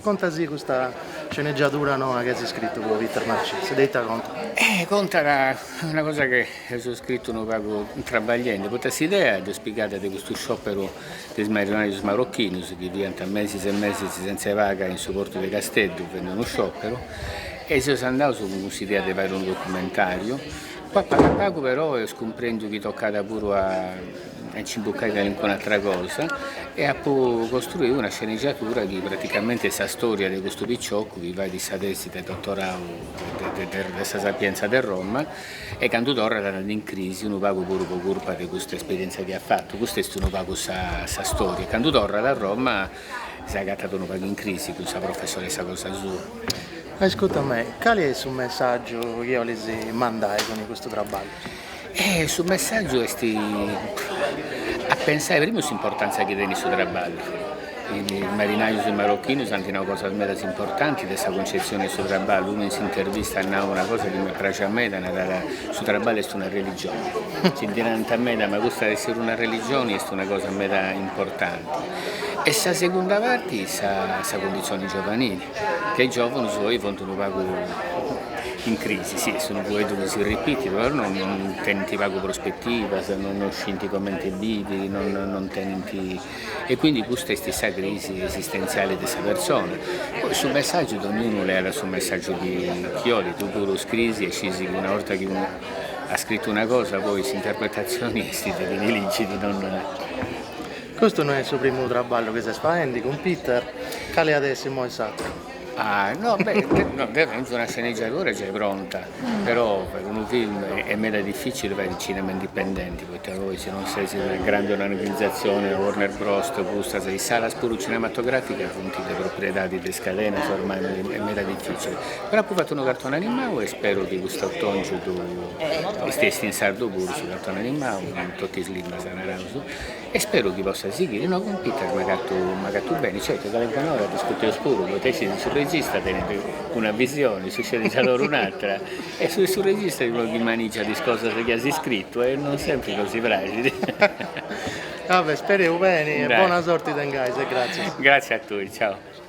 Conta·sì custa sceneggiadura noa chi as scritu po Peter Marcias, de ita contat? Eh, contat una cosa chi ap'iscritu unu pagu trabagliende, poita s'idea dd'est pigada de custu scioperu de is marinarius marochinus chi fiant mesis e mesis sentza paga in su portu de Casteddu faendi unu scioperu e seus andaus cun cuss'idea de fai unu documentariu, pagu pagu però eus cumprendiu chi tocat puru a a nci imbucai calincuna atra cosa e apu costruiu una sceniggiatura chi praticamenti est sa storia de custu piciocu chi fait sa tesi de dotorau de sa Sapienza de Roma e candu torrat in crisi unu pagu puru po curpa de custa esperientzia chi at fatu, custa est unu pagu sa storia e candu torrat a Roma s'agatat unu pagu in crisi cun sa professoressa cosa sua. Ascurta·mì, cali est su messaggiu chi 'olis mandai cun custu traballu? E su messàgiu est a pensai primu s'importàntzia chi tenit su traballu, is marinajus marocchinus ant nau cosas meda importantis de sa cuncetzione 'e su traballu, unu in s'intervista at nau una cosa chi mi praxit meda, nara, su traballu est una religione, si ndi narant meda ma custa de essere una religione est una cosa meda importante e sa segunda parti est sa cundizione giovanile ca is giòvunus oi funt unu pagu in crisi, si, est unu fueddu chi si ripitit, però non tenint pagu prospetivas, non scint comente bivi, non tenint, e quindi custa est sa crisi esistentziali de sa persona, poi su messàgiu donniunu leat su messàgiu chi chi olit, tui puru iscrisi e scisi chi una 'orta chi unu at scritu una cosa poi s'interpretatzioni est de chini ligit, non Custu no est su primu traballu chi ses faendi cun Peter, cale at essi imoi s'atteru? Ah no beh una sceneggiadura giai pronta però per unu film est meda difficile fai cinema indipendenti poita poi si non ses in una grande organizzazione Warner Bros o custas is salas puru cinematograficas funt de propriedadi de is cadenas ormai est meda difficile però apu fatu unu cartoni animau e spero chi cust'otongiu ddu esti esti in sardu puru su cartoni animau in totu is limbas naraus E speru chi possat sighire, no cun Peter, m'agatu beni, certo che calincun'ora discuteus puru, poita iscis ca su regista tenint una visioni, su scenizadori un'atra e su regista est unu chi manigiat is cosas chi as iscritu e non sempri nosi praxit. Vabbè, spereus beni e bona sorti tengais e gratzias. Gratzias a tui, ciao.